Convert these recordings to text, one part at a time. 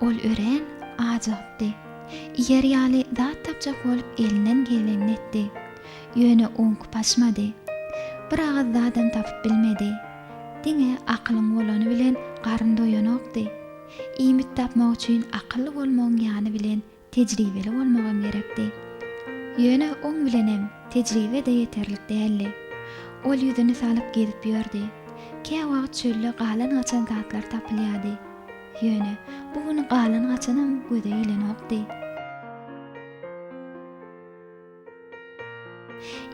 Ol örän ajygypdy. Iýer ýaly zat tapjak bolup elinden gelenini etdi. Ýöne oňki paşmady. Bir agyz zadam tapyp bilmedi. Diňe akylyň bolany bilen garyn doýanokdy. Iýmit tapmak üçin akylly bolmagyň ýany bilen Tejribeli bolmagam gerekdi. Ýöne oň bilenem tejribe-de ýeterlik däldi. Ol ýüzüni salyp gezip ýördi. Käwagt çölde galan-gaçan zatlar tapylýardy. Ýöne, bu gün galan-gaçanam göze ilenokdy.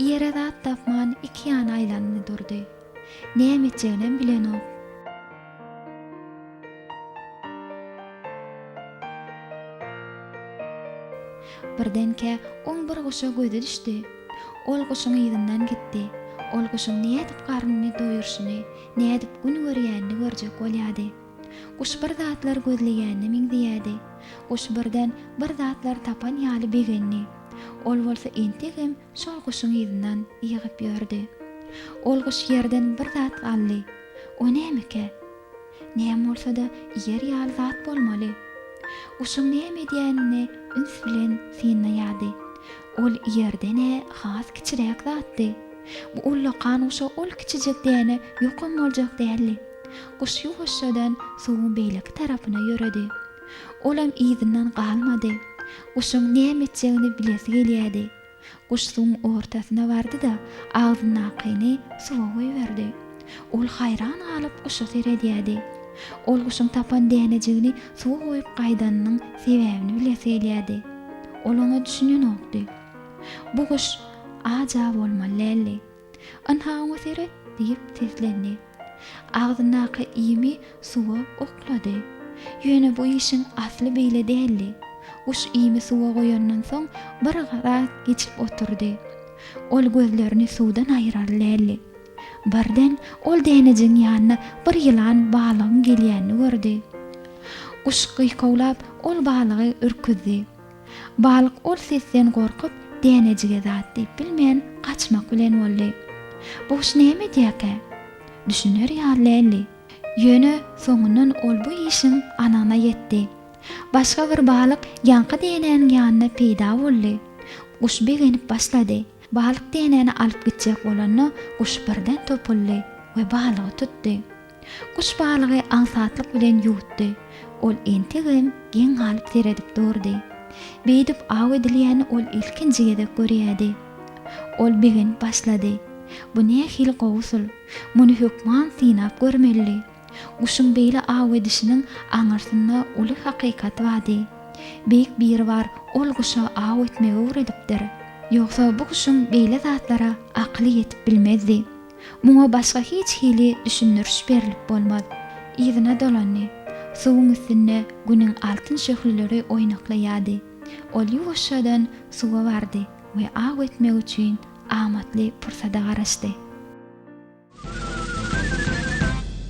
Ýere zat tapman iki ýana aýlandy durdy. Näme etjeginem bilenok. Birdenkä oň bir guşa gözi düşdi. Ol guşuň yzyndan gitdi. Ol guşuň nädip garnyny doýurşyny, nädip gün görýänini görjek bolýady. Guş bir zatlar gözleýäne meňzeýärdi. Guş birden bir zatlar tapan ýaly begendi. Ol bolsa entegem şol guşuň yzyndan ýygyp ýördi. Ol guş ýerden bir zat aldy. O nämekä? Näme bolsa-da ýer ýaly zat bolmaly. Guşuň näme edýänini üns bilen synlaýardy. Ol ýerden-ä has kiçiräk zatdy. Bu ullakan guşa ol kiçijek däne ýokum boljak däldi. Guş ýuwaşjadan suwuň beýleki tarapyna ýöredi. Olam yzyndan galmady. Guşuň näme etjegini bilesi gelýärdi. Guş suwuň ortasyna bardy-da, agzyndakyny suwa goýberdi. Ol haýran galyp guşa seredýärdi. Ol guşuň tapan dänejigini suwa goýup gaýdanynyň sebäbini bilesi gelýärdi. Ol oňa düşünenokdy. Bu guş aja bolmaly däldi. Ynha, oňa seret! diýip seslendi. Agzyndaky iými suwa oklady. Ýöne bu işiň asly beýle däldi. Guş iými suwa goýandan soň bir zat geçip oturdy. Ol gözlerini suwdan aýyrar däldi. Birden ol dänejigiň ýanyna bir ýylan balygyň gelýänini gördi. Guş gyýkawlap ol balygy ürküzdi. Balyk ol sesden gorkup, dänejige zat diýip bilmän, gaçmak bilen boldy. Bu guş näme edýärkä? Düşüner ýaly däldi. Ýöne soňundan ol bu işiň anygyna ýetdi. Başga bir balyk ýaňky dänäniň ýanynda peýda boldy. Guş begenip başlady. Balyk dänäni alyp gitjek bolanda, guş birden topuldy we balygy tutdy. Guş balygy aňsatlyk bilen ýuwutdy. Ol entegem geň galyp seredip durdy. Beýdip aw edilýäni ol ilkinji gezek görýärdi. Ol begenip başlady. Bu nähili gowy usul! Muny hökman synap görmelidi. Guşuň beýle aw edişiniň aňyrsynda uly hakykat bardy. Beýik Biribar ol guşa aw etmegi öwredipdir. Ýogsa bu guşuň beýle zatlara akyly ýetip bilmezdi. Muňa başga hiç hili düşündiriş berlip bolmaz. Yzyna dolandy. Suwuň üstünde Günüň altyn şöhleleri oýnaklaýardy. Ol ýuwaşjadan suwa bardy we aw etmek üçin amatly pursada garaşdy.